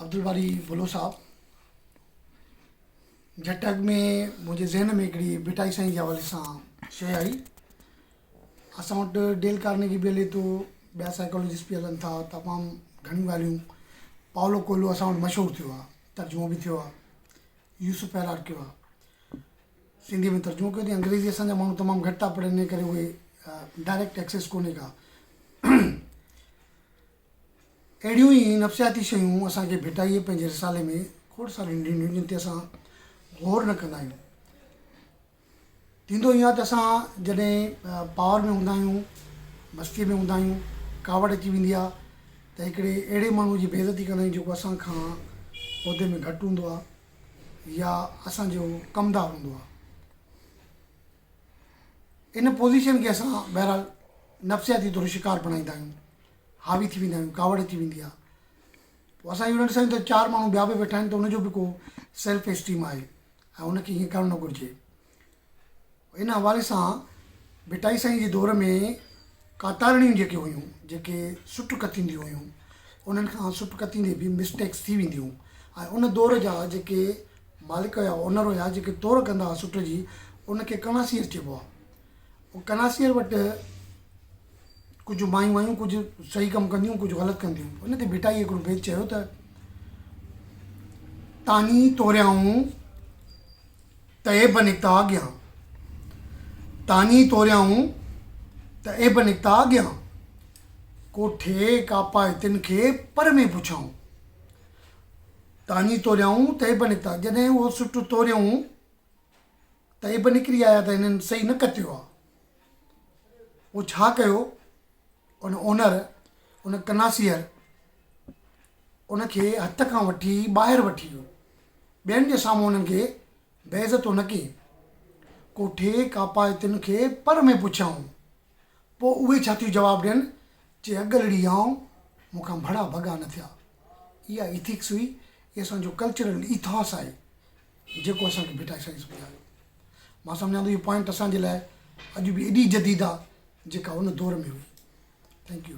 عبدالباري ڀلو صاحب جٽ اڳ ۾ منهنجي ذهن ۾ هڪڙي ڀٽائي سائين جي حوالي سان شيء آئي اسان وٽ ڊيل ڪارنيگي به هلي ٿو ٻيا سائيڪالوجسٽ به هلن ٿا تمام گهڻيون ڳالهيون پاولو ڪوئلو اسان وٽ مشهور ٿيو آهي ترجمو به ٿيو آهي يوسف پيرار ڪيو آهي سنڌي ۾ ترجمو ڪيو اٿئي انگريزي اسان جا ماڻهو تمام گهٽ ٿا پڙهن ان ڪري اهي ڊائريڪٽ ٽيڪسز ڪونهي ڪا اهڙيون ئي نفسياتي شيون اسان کي ڀٽائيء پنهنجي رسالي ۾ کوڙ ساريون ڏنيون جن تي اسان غور نه ڪندا آهيون. ٿيندو ائين آهي ته اسان جڏهن پاور ۾ هوندا آهيون، مستيء ۾ هوندا آهيون، ڪاوڙ اچي ويندي آهي ته هڪڙي اهڙي ماڻهوء جي بي عزتي ڪندا آهيون جيڪو اسان کان عهدي ۾ گهٽ هوندو آهي يا اسان جو ڪمدار هوندو آهي. ان پوزيشن کي اسان بهرحال نفسياتي طور شڪار بڻائيندا آهيون. حاوي ٿي ويندا آهيون ڪاوڙ اچي ويندي آهي پوء اسان اهو نه ڏسندا آهيون ته چار ماڻهو ٻيا به ويٺا آهن ته ان جو به ڪو سيلف اسٽيم آهي ۽ ان کي ائين ڪرڻ نه گهرجي ان حوالي سان ڀٽائي سائين جي دور ۾ ڪاتارڻيون جيڪي هيون جيڪي سٽ ڪتينديون هيون انهن کان سٽ ڪتيندي به مسٽيڪس ٿي وينديون ۽ ان دور جا جيڪي مالڪ هيا اونر هيا جيڪي تور ڪندا هئا سٽ جي ان کي ڪڻاسي اچيبو آهي ڪناسير وٽ ڪجهه مايون آيون ڪجهه صحيح ڪم ڪنديون ڪجهه غلط ڪنديون ان تي ڀٽائي هڪڙو بيت چيو ته تاني توريائون ته عيب نڪتا اڳيان تاني توريائون ته عيب نڪتا اڳيان ڪوٺي ڪاپائتن کي پر ۾ پڇائون تاني توريائون ته عيب نڪتا جڏهن اهو سٽ توريائون ته ايب نڪري آيا ته هنن صحيح نه ڪتيو آ. پوء ڇا ڪيو؟ ان اونر، ان ڪناسيئر، ان کي هٿ کان وٺي ٻاهر وٺي ويو. ٻين جي سامهون هنن کي بي عزتو نه ڪيئي. ڪوٺي ڪاپائتين کي پر ۾ پڇيائون. پوء اهي ڇا ٿيون جواب ڏين جي اڳلڙي آئون، مون کان ڀڙا ڀڳا نه ٿيا. اها ايٿڪس هئي، اهي اسان جو ڪلچرل ايٿاس آهي. جيڪو اسان کي ڀٽائي سائنس ٻڌايو. مان سمجهان ٿو اهو پوائنٽ اسان جي لاء اڄ به ايڏي جديد آ جيڪا ان دور ۾ هئي. Thank U.